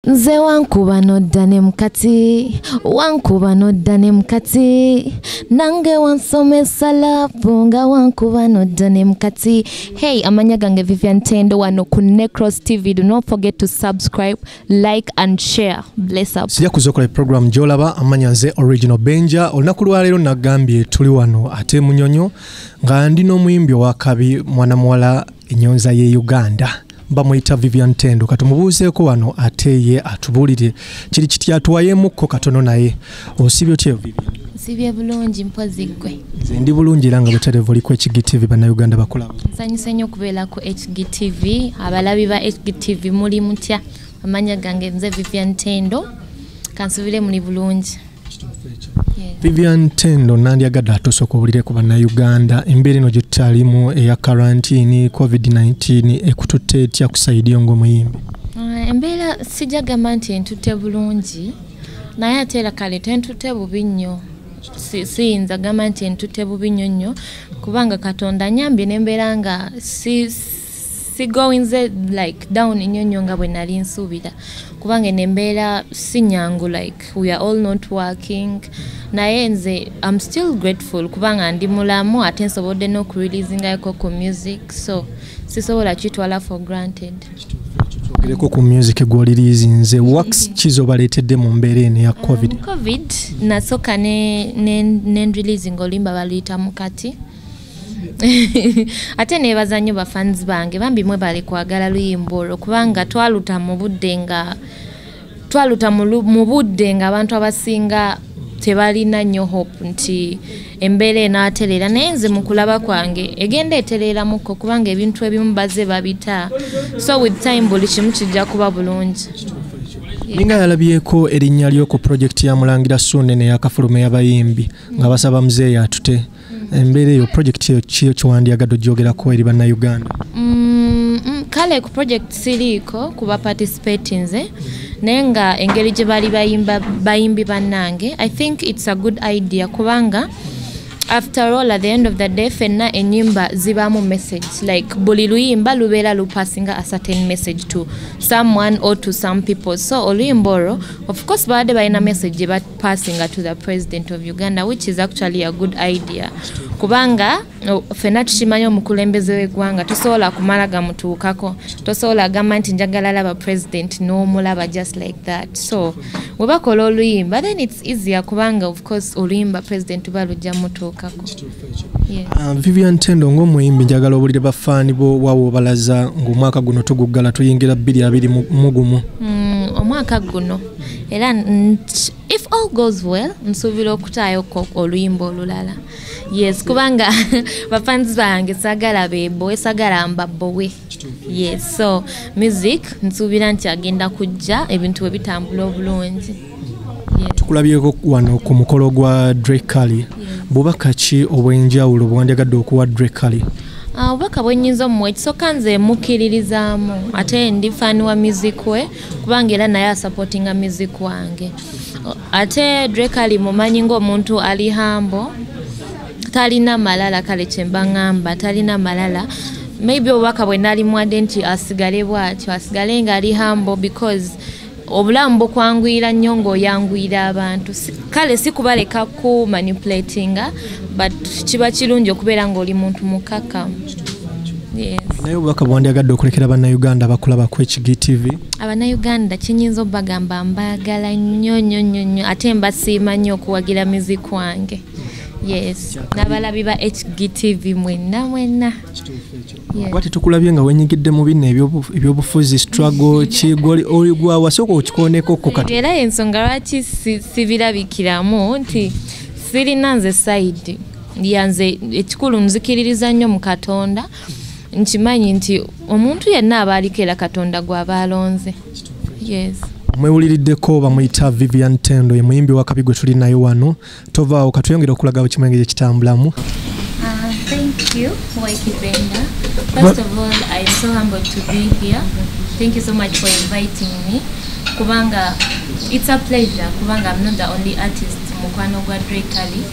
nze wankuba nodda ne mukati wankuba nodda ne mukati nange wansomesa lapu nga wankuba nodda ne mukati hey amanya gange vivian tendo wano ku necros tv do not forget to subscribe like and share bless up sija kuzokola e program jolaba amanya nze original benja olunaku lwaleero nagambye tuli wano ate munyonyo nga ndi n'omuyimbi owakabi mwana muwala enyonza ye uganda bamuyita vivian tendo katumubuuzeeko wano ate ye atubuulire kiri kiti atwayemukko katono naye osibye otya nsibye bulungi mpozi ggwe nze ndi bulungi era nga buterevu oli ku hgtv bannayuganda bakola nsanyuse nnyo okubeera ku hgtv abalabi ba hgtv muli mutya amanya gange nze vivian tendo kansubire muli bulungi vivian tendo nandyagadde atusoka obulire ku bannayuganda embeera eno gyetutalimu eya karantini covid-19 ekututte etya kusaidiyo ngaomuyimbi uh, embeera sijja gamba nti entutte bulungi naye ate era kale tentutte bubi nnyo siyinza gamba nti entutte bubi nnyo nnyo kubanga katonda nyambye nembeera nga sigowinze like down nnyo nnyo nga bwe nali nsuubira kubanga eno embeera si nyangu like we are all not working naye nze am still grateful kubanga ndi mulamu ate nsobodde n'okureleasingayoko ku music so sisobola kitwala for granted twogereko ku music gwoliriizinze wax kizo baleetedde mu mbeera eno ya covid um, covid nasooka nenreleasing ne, ne olimba baluyita mukati ate nebaza nnyo bafans bange bambi mwe bali kwagala luyimba olwo kubanga twaluta mu budde nga twaluta mu budde nga abantu abasinga tebalina nnyo hope nti embeera enaatereera naye nze mu kulaba kwange egenda etereeramukko kubanga ebintu ebimu baze babita so with time buli kimu kijja kuba bulungi ninga yalabyeko erinnya lyo ku pulojekiti ya mulangira suune neyakafulume yabayimbi nga basaba muzeeyi atute embeera eyo project eyo kiyo kiwandiyagadde ogyogerako eri bannayuganda mm, mm, kale ku project siriiko kuba participate nze naye nga engeri gye bali bayimbi bannange i think its a good idea kubanga after all at the end of the day fenna enyimba zibaamu message like buli luyimba lubeera lupasinga a certain message to someone or to some people so oluyimba olwo of course baadde balina message passing to the president of uganda which is actually a good idea kubanga fena tukimanyi omukulembeze wegwanga tosobola kumala gamutuukako tosobola agamba nti njagala laba president nomulaba just like that so webakola oluyimba then its easier kubanga of course oluyimba president uba lujja mutuukako um, vivian tendo ngaomuyimbi njagala obulire bafaani bo wawobalaza ngaomwaka guno tuguggala tuyingira bbiri abiri mugumu mm, omwaka guno era if all goes well nsuubira okutaayo oluyimba olulala yes kubanga bafanzi bange sagala bebowe sagala mbabowe yes so music nsuubira nti agenda kujja ebintu bwe bitambula obulungi tukulabyeko wano ku mukolo gwa drekali bubaka ki obw'enjawulo bwewandyagadde okuwa drekali ah, obubaka bwenyinza omuwa ekisooka nze mukkiririzaamu ate ndi faani wa music we kubanga era naye asupportinga music wange ate drake ali mumanyi ngaomuntu ali hambo talina malala kale kyemba ngamba talina malala maybe obubaka bwe nali mwade nti asigale bwatyo asigale nga ali hambo because obulamu bukwanguyira nnyo ngaoyanguyira abantu kale sikubaleka ku manipulatinga but kiba kirungi okubeera ngaoli muntu mukakamu naye obubaka bwandyagadde okulekera bannayuganda bakulaba ku hgtv abannayuganda kinyinza obagamba mbaagala nnyo nnyo nnyo nnyo ate mbasiima nnyo okuwagira miziki wange yes n'abalabi ba hgtv mwenna mwenna kuba tetukulabye nga wenyigidde mu bino ebyobufuzi struggle kigoli oligwawa sooka okikoneko kukati era yensonga lwaki sibirabikiramu nti sirina nze sayidi yanze ekikulu nzikiririza nnyo mu katonda nkimanyi nti omuntu yenna aba aliko era katonda gwaba alonze yes mwewuliriddeko bamuyita vivian tendo ye muyimbi wakabi gwe tuli naye wano tovaawo katuyongere okulaga bwe kimwenge gye kitambulamu ah, First of all, I'm so humbled to be here. Thank you so much for inviting me. Kubanga, it's a pleasure. Kubanga, I'm not the only artist. Mukwano Gwa Drake Ali.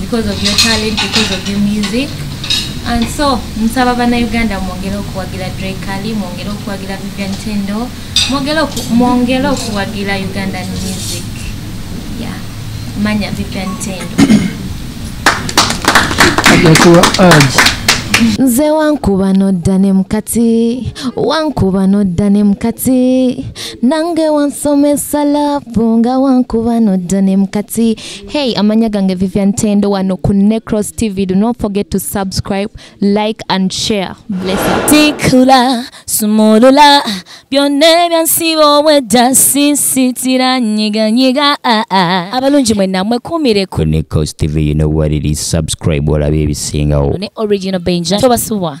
because of your talent because of your music and so nsaba bannayuganda mwongere okuwagira drekali mwongere okuwagira vivian tendo mwongere okuwagira ugandan music yeah. manya vivian tendo nze wankuba nodda ne mukati wankuba nodda ne mukati nange wansomesa lapu nga wankuba nodda ne mukati Hey, amanya gange Vivian Tendo wano ku Necros TV. Do not forget to subscribe, like and share. Bless you. Tikula, sumulula, byonne byansi wowe dasi sitira nyiga nyiga. Ah, ah. Abalungi mwe namwe kumire ku Necros TV. You know what it is. Subscribe wala bibisinga. Ne original Benja. Tobasubwa.